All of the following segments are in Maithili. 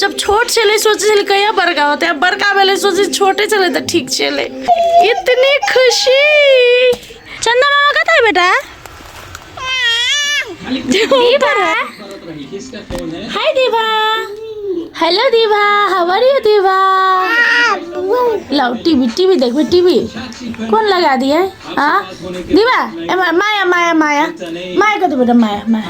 जब छोट छलै सोचै छलै कहिया बड़का होतै आब बड़का भेलै सोचै छोटे छलै तऽ ठीक छलै इतनी खुशी चंदा मामा कतऽ है बेटा Diva hi Diva hello Diva how are you Diva लाओ टीवी टीवी देखबे टीवी कौन लगा दिए हाँ दीवा ए मा- माया माया माया माया कतऽ बेटा माया माया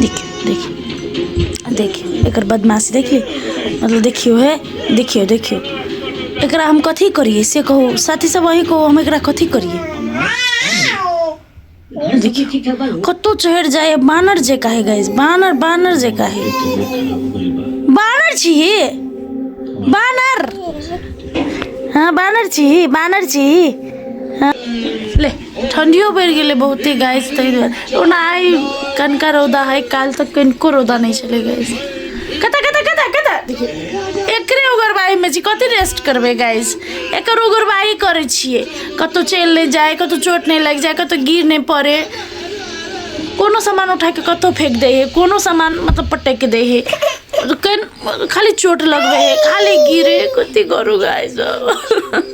देखियौ देखियौ देखियौ एकर बदमाशी देखियौ मतलब देखियौ हे देखियौ देखियौ एकरा हम कथी करियै से कहू साथी सब अहीं कहू हम एकरा कथी करियै देखियौ कतहु चढ़ि जाइए बानर जे काहे गाइस बानर बानर जे काहे बानर छी बानर हाँ बानर छी बानर छी हाँ ले ठंडियो बढ़ि गेलै बहुते गाइस ताहि दुआरे ओना आइ कनका रौदा है काल्हि तक कनिको रौदा नहि छलै गाइस कतऽ कतऽ कतऽ कतऽ देखियौ, एकरे उगरबाइमे छी कथी रेस्ट करबै गाइस एकर उगरबाइ करै छियै कतहु चलि नहि जाय कतहु चोट नहि लागि जाय कतहु गिर नहि पड़े कोनो सामान उठा के कतहु फेंक दै है कोनो सामान मतलब पटक दै है कन खाली चोट लगबै है खाली गिरे कथी करू गाइस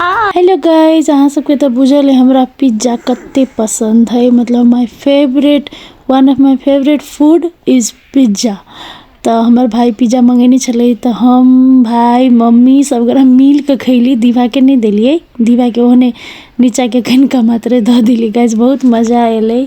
हेलो गाइज अहाँ सबके तऽ बुझल है हमरा पिज्जा कते पसंद है मतलब my favourite one of my favourite food is pizza तऽ हमर भाय पिज्जा मंगेने छलै तऽ हम भाय मम्मी सब गोरा मिल के खैली दीवा के नहीं देलिए दीवा के ओहने नीचा के कनिका मात्र दऽ देली गाइज बहुत मजा एलै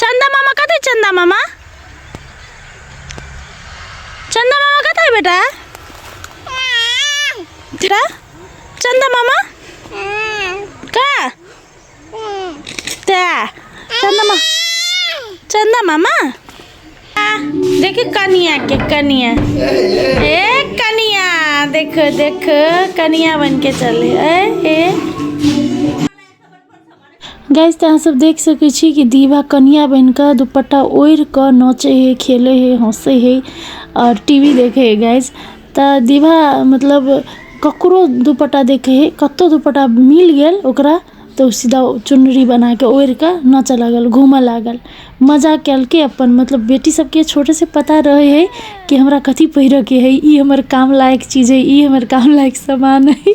चंदा मामा कत है चंदा मामा चंदा मामा कत है बेटा बेटा चंदा मामा का ता चंदा मामा चंदा मामा देखिए कनिया के कनिया ए कनिया देखो देखो कनिया बन के चले ए ए गैस तऽ अहाँसभ देख सकै छी कि दीवा कनिया बनि कऽ दुपट्टा ओढ़ि कऽ नचै हइ खेलै हइ हँसै हइ आओर टी वी देखै हइ गैस तऽ दीवा मतलब ककरो दुपट्टा देखै हइ कतहु दुपट्टा मिल गेल ओकरा तऽ ओ सीधा चुनरी बना कऽ ओढ़ि कऽ नाचय लागल घूमय लागल मजा केलकै अपन मतलब बेटीसभके छोटेसँ पता रहै हइ कि हमरा कथी पहिरयके हइ ई हमर काम लायक चीज हइ ई हमर काम लायक सामान हइ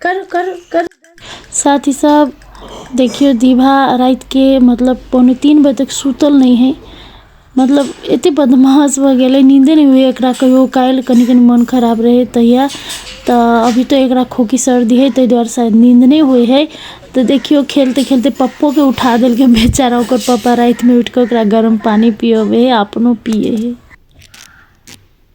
करू करू करू साथी सब देखियौ दीभा रातिके मतलब पौने तीन बजे तक सुतल नहि है मतलब एते बदमाश भऽ गेलै नींदे नहि होइए एकरा कहियो काल्हि कनि कनि मोन खराब रहै तहिया तऽ अभी तऽ एकरा खोकी सर्दी है ताहि दुआरे शायद नींद नहि होइ है तऽ देखियौ खेलते खेलते पप्पोके उठा देलकै बेचारा ओकर पप्पा रातिमे उठि कऽ ओकरा गरम पानि पियबै है अपनो पियै है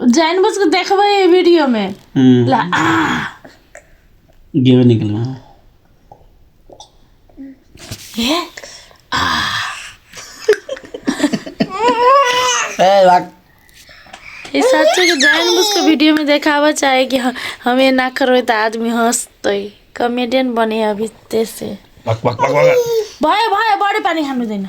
जानि बुझ के देखबै एहि वीडियो में ला आ गेबे नहि केलहुँ हँ। हे ए, भाग। ई सच्चे के जानि बुझ के वीडियो में देखाबऽ चाहे कि ह- हम एना करबै तऽ आदमी हंसतै कॉमेडियन बने अभी ते से भाग, भाग, भाग, भाग। भयो भयो बढी पानी खानु दैन